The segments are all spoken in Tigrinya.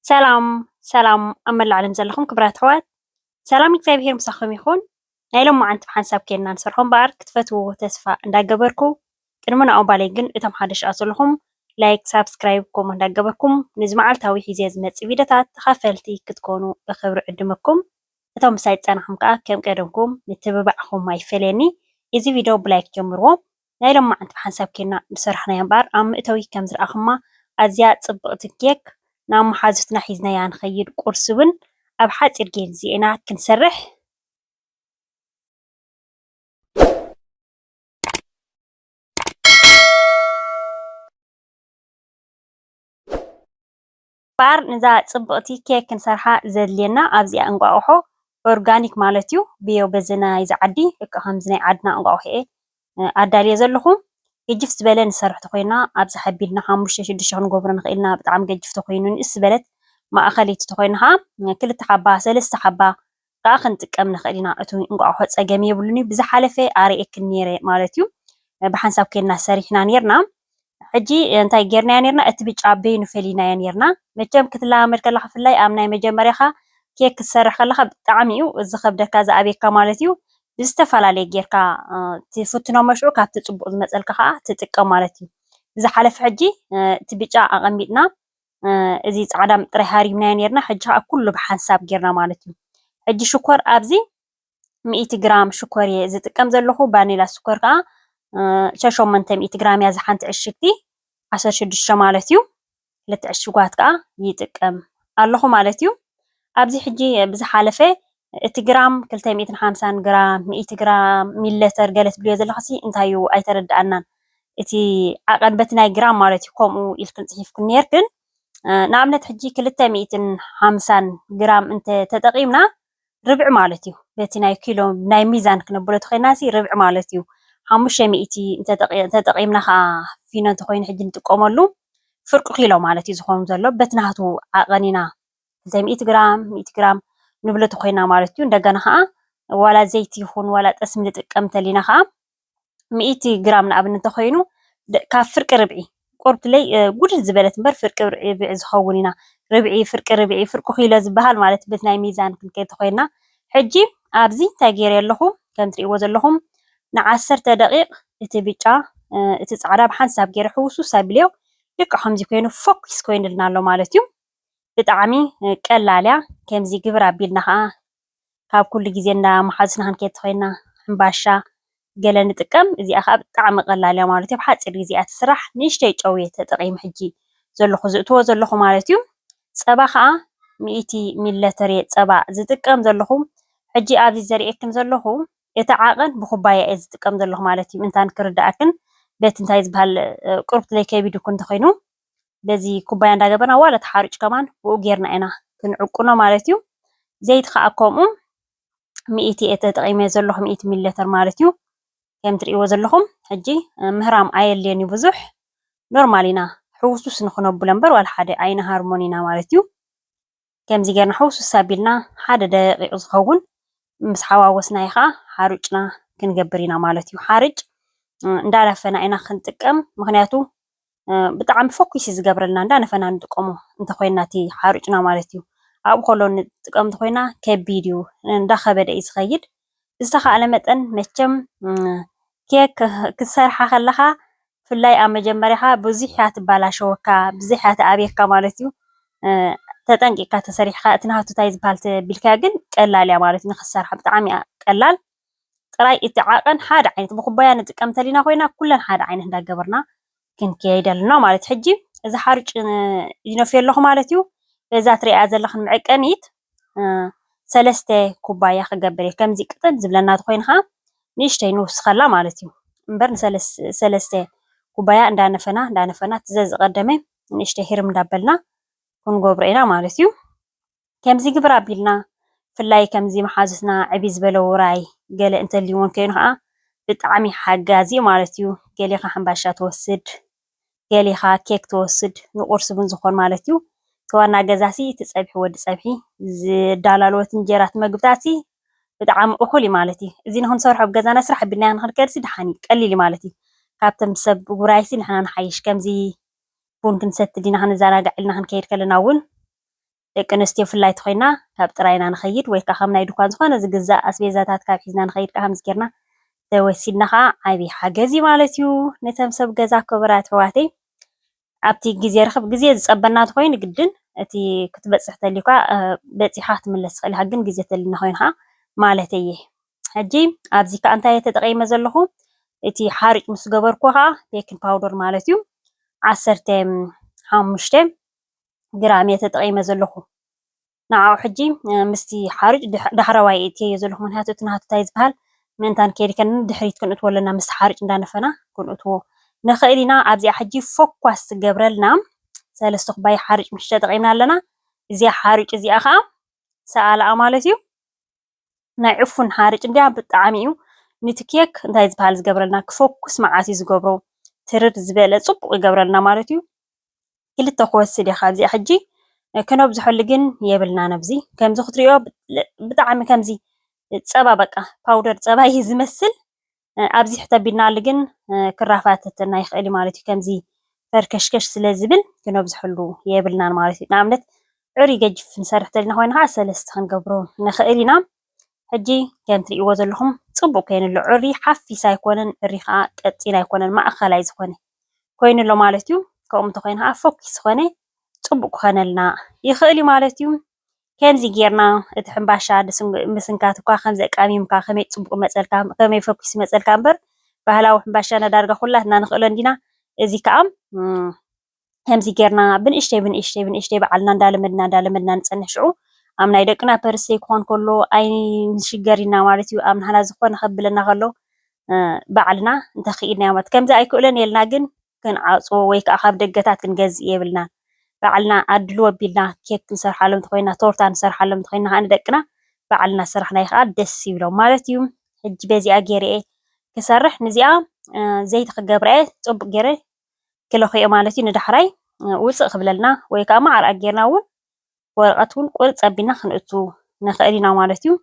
ሰላም ሰላም ኣብ መላእ ዓለም ዘለኹም ክብራት ኣሕዋት ሰላም እግዚኣብሄር ምሳኹም ይኹን። ናይ ሎማዓንቲ ብሓንሳብ ኬንና ንሰርሖ እምበኣር ክትፈትውዎ ተስፋ እንዳገበርኩ ቅድሚ ንዕኡ ባለይ ግን እቶም ሓደሽ ኣት ዘለኹም ላይክ ሳብስክራይብ ከምኡ እንዳገበርኩም ነዚ መዓልታዊ ሒዜ ዝመጽእ ቪድዮታት ተኻፈልቲ ክትኮኑ ብኽብሪ ዕድመኩም እቶም ምሳይ ዝጸናሕኩም ከኣ ከም ቀደምኩም ምትብባዕኹም ኣይፈለየኒ እዚ ቪድዮ ብላይክ ጀምርዎ ናይ ሎማዓንቲ ብሓንሳብ ኬድና ዝሰራሕናያ እምበኣር ኣብ መእተዊ ከም ዝረኣኹማ ኣዝያ ጽብቕቲ ኬክ ናብ መሓዙትና ሒዝናያ ንኸይድ ቁርሲ ውን ኣብ ሓጺር ጌዜ ኢና ክንሰርሕ ባር ንዛ ጽብቅቲ ኬክ ክንሰርሓ ዘድልየና ኣብዚኣ እንቋቁሖ ኦርጋኒክ ማለት እዩ ብዮ በዚ ናይዚ ዓዲ ልክዕ ከምዚ ናይ ዓድና እንቋቁሖ እየ ኣዳልየ ዘለኹ ገጅፍ ዝበለ ንሰርሕ ተኾይና ኣብዚ ሓቢልና ሓሙሽተ ሽዱሽተ ክንገብሮ ንኽእል ኢና ብጣዕሚ ገጅፍ ተኾይኑ ንእስ ዝበለት ማእኸለይቲ ተኾይና ከዓ ክልተ ሓባ ሰለስተ ሓባ ካኣ ክንጥቀም ንክእል ኢና እቲ እንቋቁሖ ጸገም የብሉን እዩ ብዝሓለፈ ኣርኤክን ኔረ ማለት እዩ ብሓንሳብ ኬድና ሰሪሕና ኔርና ሕጂ እንታይ ጌርናዮ ኔርና እቲ ብጫ በይኑ ፈሊናዮ ኔርና መቸም ክትለማመድ ከለካ ብፍላይ ኣብ ናይ መጀመርያካ ኬክ ክትሰርሕ ከለካ ብጣዕሚ እዩ ዝከብደካ ዝኣብየካ ማለት እዩ ብዝተፈላለየ ጌርካ ትፍትኖ መሽዑ ካብቲ ጽቡቅ ዝመጸልካ ካኣ ትጥቀም ማለት እዩ ብዝሓለፈ ሕጂ እቲ ብጫ ኣቀሚጥና እዚ ጻዕዳ ጥራይ ሃሪምናዮ ኔርና ሕጂ ከኣ ኩሉ ብሓንሳብ ጌርና ማለት እዩ። ሕጂ ሽኮር ኣብዚ ሚእቲ ግራም ሽኮር እየ ዝጥቀም ዘለኹ። ቫኒላ ሽኮር ከኣ ሸሞንተ ሚእቲ ግራም እያ ዝሓንቲ ዕሽግቲ ዓሰርተ ሽዱሽተ ማለት እዩ። ክልተ ዕሽጓት ከኣ ይጥቀም ኣለኹ ማለት እዩ። ኣብዚ ሕጂ ብዝሓለፈ እቲ ግራም ክልተ ሚእትን ሓምሳን ግራም ሚእቲ ግራም ሚለተር ገለ ትብልዮ ዘለኽሲ እንታይ እዩ ኣይተረድኣናን እቲ ዓቐን በቲ ናይ ግራም ማለት እዩ ከምኡ ኢልክን ጽሒፍክን ኔርክን ንኣብነት ሕጂ ክልተ ሚእትን ሓምሳን ግራም እንተ ተጠቒምና ርብዒ ማለት እዩ በቲ ናይ ኪሎ ናይ ሚዛን ክነብሎ ተኾይናሲ ርብዒ ማለት እዩ ሓሙሽተ ሚእቲ እንተጠቒምና ኸኣ ፊኖ እንተኾይኑ ሕጂ ንጥቀመሉ ፍርቂ ኪሎ ማለት እዩ ዝኾኑ ዘሎ በቲ ናቱ ዓቐን ኢና ዘይ ሚእቲ ግራም ሚእቲ ግራም ንብሎ ተኾይና ማለት እዩ እንደገና ኸዓ ዋላ ዘይቲ ይኹን ዋላ ጠስሚ ንጥቀም እንተሊና ኸዓ ሚእቲ ግራም ንኣብነት እንተኾይኑ ካብ ፍርቂ ርብዒ ቁርብትለይ ጉድል ዝበለት እምበር ፍርቂ ርብዒ ዝኸውን ኢና ርብዒ ፍርቂ ርብዒ ፍርቂ ኪሎ ዝበሃል ማለት በት ናይ ሚዛን ክንከይድ ተኾይና ሕጂ ኣብዚ እንታይ ገይረ ኣለኹ ከም ትሪእዎ ዘለኹም ንዓሰርተ ደቂቕ እቲ ብጫ እቲ ፃዕዳ ብሓንሳብ ገይረ ሕውስውስ ኣቢለዮ ልክዕ ከምዚ ኮይኑ ፎኪስ ኮይኑልና ኣሎ ማለት እዩ ብጣዕሚ ቀላል እያ ከምዚ ግብር ኣቢልና ከዓ ካብ ኩሉ ግዜ እንዳ መሓዙትና ክንከድ ተኮይና ሕምባሻ ገለ ንጥቀም እዚኣ ከዓ ብጣዕሚ ቀላል እያ ማለት እዩ ብሓፂር ግዜ እያ ትስራሕ ንእሽተይ ጨው እየ ተጠቂመ ሕጂ ዘለኩ ዝእትዎ ዘለኩ ማለት እዩ ፀባ ከዓ ሚእቲ ሚሊለተር እየ ፀባ ዝጥቀም ዘለኩ ሕጂ ኣብዚ ዘርእየክን ዘለኩ እቲ ዓቐን ብኩባያ እየ ዝጥቀም ዘለኩ ማለት እዩ እንታን ክርደኣክን በቲ እንታይ ዝበሃል ቁርብትለይ ከቢድኩ እንተኮይኑ በዚ ኩባያ እንዳገበርና ዋላ ተሓሩጭ ከማን ብኡ ጌርና ኢና ክንዕቁኖ ማለት እዩ። ዘይቲ ከዓ ከምኡ ሚእቲ እየ ተጠቒመ ዘለኹ ሚእቲ ሚሊ ሊተር ማለት እዩ። ከም ትርእይዎ ዘለኹም ሕጂ ምህራም ኣየድልዮን እዩ ብዙሕ ኖርማል ኢና ሕውስውስ ንኽነብሎ እምበር ዋላ ሓደ ኣይንሃርሞን ኢና ማለት እዩ። ከምዚ ጌርና ሕውስውስ ኣቢልና ሓደ ደቂቕ ዝኸውን ምስ ሓዋወስናዮ ኸዓ ሓሩጭና ክንገብር ኢና ማለት እዩ። ሓርጭ እንዳነፈና ኢና ክንጥቀም ምኽንያቱ ብጣዕሚ ፈኲስ እዩ ዝገብረልና እንዳነፈና ንጥቀሞ እንተኾይና እቲ ሓሩጭና ማለት እዩ። ኣብኡ ከሎ ንጥቀም እንተኾይና ከቢድ እዩ እንዳኸበደ እዩ ዝኸይድ። ብዝተኻእለ መጠን መቸም ኬክ ክትሰርሓ ከለኻ ብፍላይ ኣብ መጀመርያኻ ብዙሕ እያ ትበላሸወካ ብዙሕ እያ ትኣብየካ ማለት እዩ። ተጠንቂቕካ ተሰሪሕካ እቲ ናሃቱ እንታይ ዝባሃል ተቢልካዮ ግን ቀላል እያ ማለት እዩ ንኽትሰርሓ ብጣዕሚ እያ ቀላል። ጥራይ እቲ ዓቐን ሓደ ዓይነት ብኩባያ ንጥቀም እንተሊና ኮይና ኩለን ሓደ ዓይነት እንዳገበርና ክንከይድ ኣለና ማለት እዩ። ሕጂ እዚ ሓሩጭ ይነፍዮ ኣለኹ ማለት እዩ። በዛ ትሪእያ ዘለኽን መዕቀኒት ሰለስተ ኩባያ ክገብር እየ ከምዚ ቅጥን ዝብለና ተኾይኑ ኸዓ ንእሽተይ ንውስኸላ ማለት እዩ እምበር ንሰለስተ ኩባያ እንዳነፈና እንዳነፈና እቲ ዘዝቐደመ ንእሽተይ ህርም እንዳበልና ክንገብሮ ኢና ማለት እዩ ከምዚ ግብር ኣቢልና ብፍላይ ከምዚ መሓዙትና ዕብይ ዝበለ ውራይ ገለ እንተልዩወን ኮይኑ ኸዓ ብጣዕሚ ሓጋዚ ማለት እዩ ገሊኻ ሕምባሻ ትወስድ ገሊኻ ኬክ ትወስድ ንቁርሲ ቡን ዝኾን ማለት ዩ እቲ ዋና ገዛሲ እቲ ፀብሒ ወዲ ፀብሒ ዝዳላልዎ እቲ እንጀራ እቲ መግብታትሲ ብጣዓሚ ኡኹል ዩ ማለት ዩ እዚ ንኽንሰርሖ ኣብ ገዛና ስራሕ ኣቢልናዮ ንኽንከድሲ ዳሓን ዩ ቀሊል ዩ ማለት ዩ ካብቶም ሰብ ውራይሲ ንሕና ንሓይሽ ከምዚ ቡን ክንሰቲ ዲና ክንዛናጋዕ ኢልና ክንከይድ ከለና ውን ደቂ ኣንስትዮ ፍላይ ተኾይና ካብ ጥራይና ንኸይድ ወይ ከኣ ከም ናይ ድኳን ዝኾነ ዝግዛእ ኣስቤዛታት ካብ ሒዝና ንኸይድ ከኣ ከምዚ ጌርና ተወሲድና ከኣ ዓቢ ሓገዝ እዩ ማለት እዩ ነቶም ሰብ ገዛ ክብራት ኣሕዋተይ ኣብቲ ግዜ ርክብ ግዜ ዝጸበና ተኾይኑ ግድን እቲ ክትበጽሕ ተልዩካ በጺሓ ክትምለስ ትኽእል ኢኻ ግን ግዜ ተልና ኮይኑ ከኣ ማለት እየ ሕጂ ኣብዚ ከኣ እንታይ ተጠቂመ ዘለኹ እቲ ሓርጭ ምስ ገበርኩ ከኣ ቤኪን ፓውደር ማለት እዩ ዓሰርተ ሓሙሽተ ግራም እየ ተጠቒመ ዘለኹ ንዓኡ ሕጂ ምስቲ ሓርጭ ዳሕረዋይ እትየዮ ዘለኹ ምክንያቱ እቲ ናቱ እንታይ ዝበሃል ምእንታን ከይድከን ድሕሪት ክንእትዎ ኣለና ምስ ሓርጭ እንዳነፈና ክንእትዎ ንኽእል ኢና ኣብዚኣ ሕጂ ፎኳስ ትገብረልና ሰለስተ ኩባያ ሓርጭ ምሽተ ጠቒምና ኣለና እዚኣ ሓርጭ እዚኣ ከዓ ሰኣላኣ ማለት እዩ ናይ ዕፉን ሓርጭ እንድያ ብጣዕሚ እዩ ንቲ ኬክ እንታይ ዝበሃል ዝገብረልና ክፎኩስ መዓት እዩ ዝገብሮ ትርር ዝበለ ጽቡቅ ይገብረልና ማለት እዩ ክልተ ክወስድ እየ ካብዚኣ ሕጂ ክነብዝሐሉ ግን የብልናን ኣብዚ ከምዚ ክትሪኦ ብጣዕሚ ከምዚ ጸባ በቃ ፓውደር ጸባ እዩ ዝመስል ኣብዚ ሕት ኣቢልናሉ ግን ክራፋተተና ይኽእል ማለት እዩ ከምዚ ፈርከሽከሽ ስለ ዝብል ክነብዝሐሉ የብልናን ማለት እዩ ንኣብነት ዕሪ ገጅፍ ንሰርሕ ተልና ኮይና ከዓ ሰለስተ ክንገብሮ ንኽእል ኢና ሕጂ ከም ትርእይዎ ዘለኹም ጽቡቅ ኮይኑ ኣሎ ዕሪ ሓፊስ ኣይኮነን ዕሪ ከዓ ቀጢን ኣይኮነን ማእከላይ ዝኾነ ኮይኑ ኣሎ ማለት እዩ ከምኡ እንተኾይኑ ከዓ ፎኪስ ዝኾነ ጽቡቅ ክኾነልና ይኽእል እዩ ማለት እዩ ከምዚ ጌርና እቲ ሕምባሻ ምስንካት እኳ ከምዚ ኣቃሚምካ ከመይ ጽቡቅ ይመጸልካ ከመይ ፈኪሱ ይመጸልካ እምበር ባህላዊ ሕምባሻና ዳርጋ ኩላትና ንክእሎ እንዲና እዚ ከኣ ከምዚ ጌርና ብንእሽተይ ብንእሽተይ ብንእሽተይ በዓልና እንዳለመድና እንዳለመድና ንጸንሕ ሽዑ ኣብ ናይ ደቅና ፐርሰይ ክኾን ከሎ ኣይንሽገር ኢና ማለት እዩ ኣብ ንሕና ዝኾነ ከብለና ከሎ ባዕልና እንተኽኢልናዮ ማለት ከምዚ ኣይክእሎን የልና ግን ክንዓጽዎ ወይ ከኣ ካብ ደገታት ክንገዝእ የብልናን። ባዕልና ኣድልዎ ኣቢልና ኬክ ክንሰርሓሎም እንተኾይና ቶርታ ንሰርሓሎም እንተኾይና ከኣ ንደቅና ባዕልና ዝሰራሕናዮ ከኣ ደስ ይብሎም ማለት እዩ። ሕጂ በዚኣ ጌረ እየ ክሰርሕ ንዚኣ ዘይቲ ክገብራ እየ ጽቡቕ ጌረ ክለኽዮ ማለት እዩ ንዳሕራይ ውጽእ ክብለልና ወይ ከኣ መዓር ኣጌርና እውን ወረቐት ውን ቁርፅ ኣቢልና ክንእቱ ንኽእል ኢና ማለት እዩ፡፡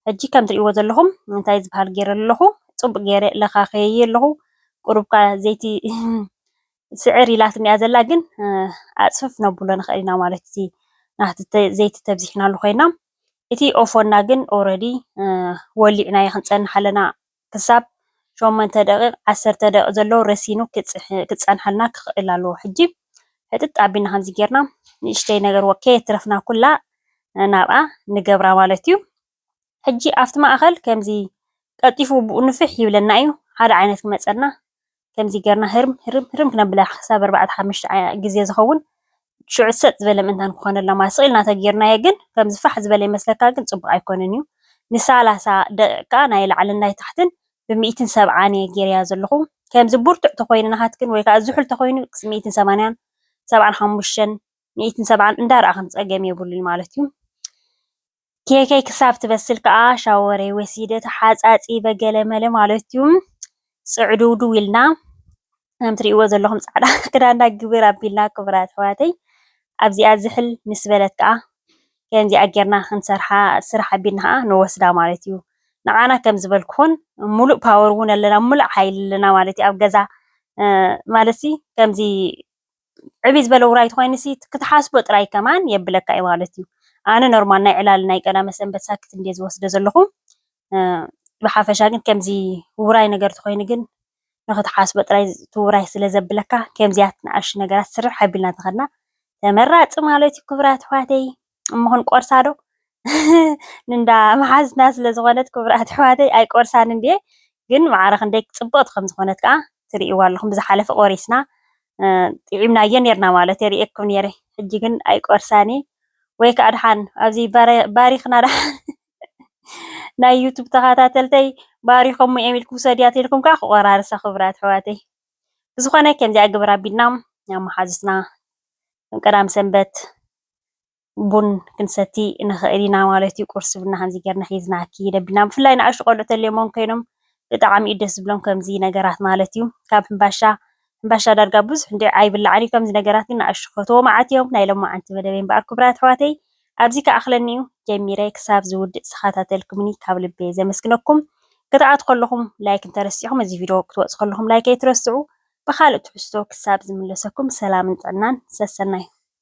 ሕጂ ከም ትሪእዎ ዘለኹም እንታይ ዝባሃል ገይረ ኣለኹ ፅቡቕ ገይረ ለኻኽየዮ ኣለኹ፡፡ ቁሩብ እኳ ዘይቲ ስዕር ኢላትኒ እያ ዘላ ግን ኣፅፍፍ ክነብሎ ንኽእል ኢና ማለት እዩ፡፡ ናህቲ ዘይቲ ተብዚሕናሉ ኾይና እቲ ኦፎና ግን ኦረዲ ወሊዕናዮ ክንፀንሕ ኣለና ክሳብ ሸሞንተ ደቂቅ ዓሰርተ ደቂቅ ዘሎ ረሲኑ ክጸንሓልና ክክእል ኣለዎ ሕጂ ሕጥጥ ኣቢልና ከምዚ ጌርና ንእሽተይ ነገር ወከ የትረፍና ኩላ ናብኣ ንገብራ ማለት እዩ ሕጂ ኣብቲ ማእከል ከምዚ ቀልጢፉ ብኡ ንፍሕ ይብለና እዩ ሓደ ዓይነት ክመጸና ከምዚ ገርና ህርም ህርም ህርም ክነብላ ክሳብ ኣርባዕተ ሓሙሽተ ግዜ ዝኸውን ሽዑ ሰጥ ዝበለ ምእንታን ክኾነልና ማለት ስቕ ኢልና ተጌርናዮ ግን ከምዚ ፋሕ ዝበለ ይመስለካ ግን ጽቡቕ ኣይኮነን እዩ ንሳላሳ ደቒቕ ከኣ ናይ ላዕልን ናይ ታሕትን ብሚእትን ሰብዓን እየ ጌረያ ዘለኹ ከምዚ ብርቱዕ ተኾይኑ ናሃትክን ወይ ከኣ ዝሑል ተኾይኑ ሚእትን ሰማንያን ሰብዓን ሓሙሽተን ሚእትን ሰብዓን እንዳረኣኽን ጸገም የብሉን ማለት እዩ። ኬከይ ክሳብ ትበስል ከኣ ሻወረይ ወሲደ ተሓጻጺበ ገለ መለ ማለቱ ጽዕድውድው ኢልና ከም ትርእይዎ ዘለኹም ጻዕዳ ክዳንና ግብር ኣቢልና ክቡራት ኣሕዋተይ ኣብዚኣ ዝሕል ምስ በለት ከኣ ከምዚኣ ጌርና ክንሰርሓ ስራሕ ኣቢልና ከኣ ንወስዳ ማለት እዩ ንዓና ከም ዝበልኩኹን ሙሉእ ፓወር እውን ኣለና ሙሉእ ሓይሊ ኣለና ማለት እዩ ኣብ ገዛ ማለት ከምዚ ዕብይ ዝበለ ውራይ ተኾይኑሲ ክትሓስቦ ጥራይ ከማን የብለካ ኢዩ ማለት ኢዩ። ኣነ ኖርማል ናይ ዕላል ናይ ቀዳመ ሰንበት ሳክት እንድየ ዝወስዶ ዘለኹ ብሓፈሻ ግን ከምዚ ውራይ ነገር ተኾይኑ ግን ንኽትሓስቦ ጥራይ እቲ ውራይ ስለ ዘብለካ ከምዚያት ንኣሽቱ ነገራት ስርሕ ኣቢልና ተኸድና ተመራጺ ማለት ኢዩ ክብራት ኣሕዋተይ። እሞ ክንቆርሳ ዶ ንንዳ መሓዝትና ስለ ዝኾነት ክቡራት ኣሕዋተይ ኣይቆርሳን እንድየ ግን ማዕረ ክንደይ ጽብቕቲ ከም ዝኾነት ከኣ ትርእይዎ ኣለኹም ብዝሓለፈ ቆሪስና ጥዒምናዮ ኔርና ማለት እየ ርእየኩም ኔረ ሕጂ ግን ኣይቆርሳን እየ ወይ ከዓ ድሓን ኣብዚ ባሪኽና ድሓን ናይ ዩቱብ ተኸታተልተይ ባሪኾም እዮም ኢልኩም ሰድያ ተልኩም ከዓ ክቆራርሳ ክቡራት ኣሕዋተይ ብዝኾነ ከምዚኣ ግብር ኣቢልና ናብ መሓዙትና ቀዳም ሰንበት ቡን ክንሰቲ ንኽእል ኢና ማለት እዩ። ቁርሲ ቡና ከምዚ ጌርና ሒዝና ክንከይድ ኣቢልና ብፍላይ ንኣሽቱ ቆልዑ ተልዮምዎም ኮይኖም ብጣዕሚ እዩ ደስ ዝብሎም ከምዚ ነገራት ማለት እዩ። ካብ ሕምባሻ ሕምባሻ ዳርጋ ብዙሕ እንድዒ ኣይብላዕን እዩ። ከምዚ ነገራት ግን ንኣሽቱ ክፈትዎ መዓት እዮም። ናይ ሎማዓንቲ መደበይ እምበኣር ክቡራት ኣሕዋተይ ኣብዚ ክኣኽለኒ እዩ። ጀሚረ ክሳብ ዝውድእ ዝተኸታተልኩምኒ ካብ ልቢ እየ ዘመስግነኩም። ክትኣትዉ ከለኹም ላይክ እንተረሲዕኩም እዚ ቪድዮ ክትወጹ ከለኹም ላይክ ኣይትረስዑ። ብኻልእ ትሕዝቶ ክሳብ ዝምለሰኩም ሰላምን ጥዕናን ሰሰናዩ።